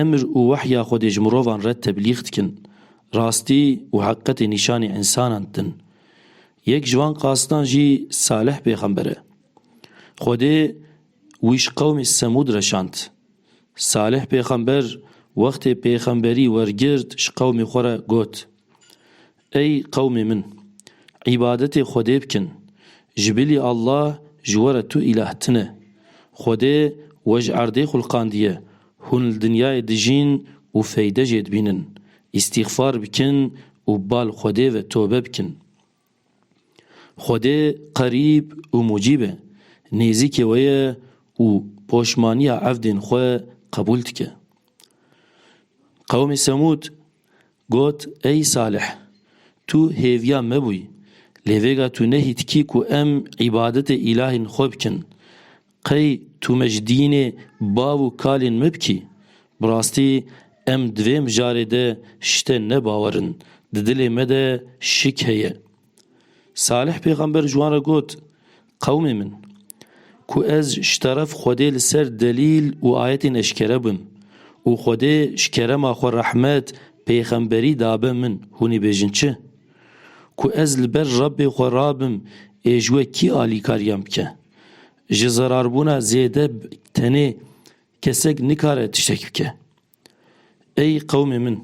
Emr û wehya Xwedê ji mirovan re teblîx dikin, rastî û heqiqetê nîşanî însanan didin. Yek ji van qasidan jî Salih pêxember e. Xwedê wî ji qewmê Semûd re şand. Salih pêxember wextê pêxemberî wergirt ji qewmê xwe re got, Ey qewmê min! Îbadetê Xwedê bikin. Ji bilî Allah ji we re tu îlah tune. Xwedê we ji erdê xulqandiye, hûn li dinyayê dijîn û feyde jê dibînin. Îstîxfar bikin û bal Xwedê ve tobe bikin. Xwedê Qerîb û Mucîb e, nêzîkê we ye û poşmaniya evdên xwe qebûl dike. Qewmê Semûd Got, Ey Salih! Tu hêviya me bûyî, lê vêga tu nehî dikî ku em îbadetê îlahên xwe bikin. Qey tu me ji dînê bav û kalên me bikî? Bi rastî em di vê mijarê de ji te nebawer in, di dilê me de şik heye. Salih pêxember ji wan re got, Qewmê min! Ku ez ji teref Xwedê li ser delîl û ayetên eşkere bim û Xwedê ji kerema xwe rehmet, pêxemberî dabe min, hûn ê bêjin çi? Ku ez li ber Rebbê xwe rabim ê ji we kî alîkariyan bike? Ji zerarbûna zêde tenê kesek nikare tiştek bike. Ey qewmê min!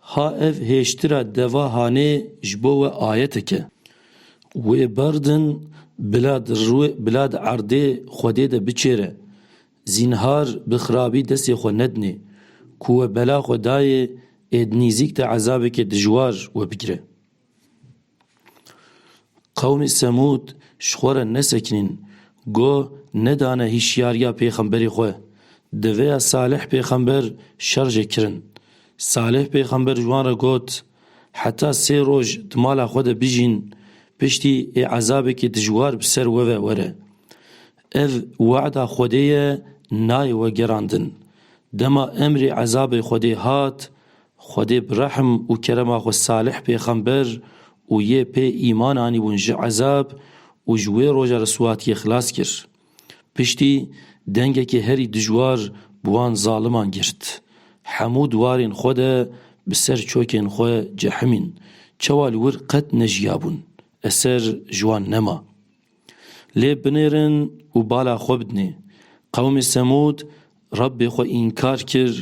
Ha ev hêştira deva hanê ji bo we ayetek e. Wê berdin bila di rûê bila di erdê Xwedê de biçêre. Zînhar bi xirabî destê xwe nedinê. Ku we bela xwe dayê êd nîzîk te ezabekê dijwar we bigire. Qewmê Semûd ji xwe re nesekinîn, goh nedane hîşyariya pêxemberê xwe. Di vê ya Salih pêxember şer jê kirin. Salih pêxember ji wan re got, Heta sê roj di mala xwe de bijîn, piştî ê ezabekî dijwar bi ser we ve were. Ev wehda Xwedê ye, nayê wegerandin. Dema emrê ezabê Xwedê hat, Xwedê bi rehm û kerema xwe Salih pêxember û yê pê îman anîbûn ji ezab û ji wê roja riswatiyê xilas kir. Piştî dengekê herî dijwar bi wan zaliman girt, Hemû diwarên xwe de bi ser çokên xwe cehimîn, çawa li wir qet nejiyabûn, eser ji wan nema. Lê binêrin û bala xwe bidinê. Qewmê Semûd Rebbê xwe înkar kir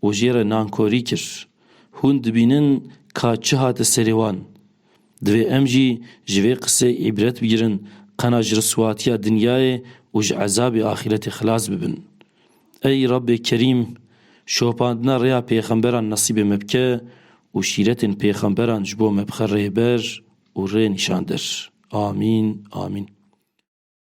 û jê re nankorî kir. Hûn dibînin ka çi hate serê wan. Divê em jî ji vê qisê îbret bigirin qena ji riswatiya dinyayê û ji ezabê axîretê xilas bibin. Ey Rabbê Kerîm! Şopandina rêya pêxemberan nesîbê me bike û şîretên pêxemberan ji bo me bixe rêber û rê nîşandir. Amîn. Amîn.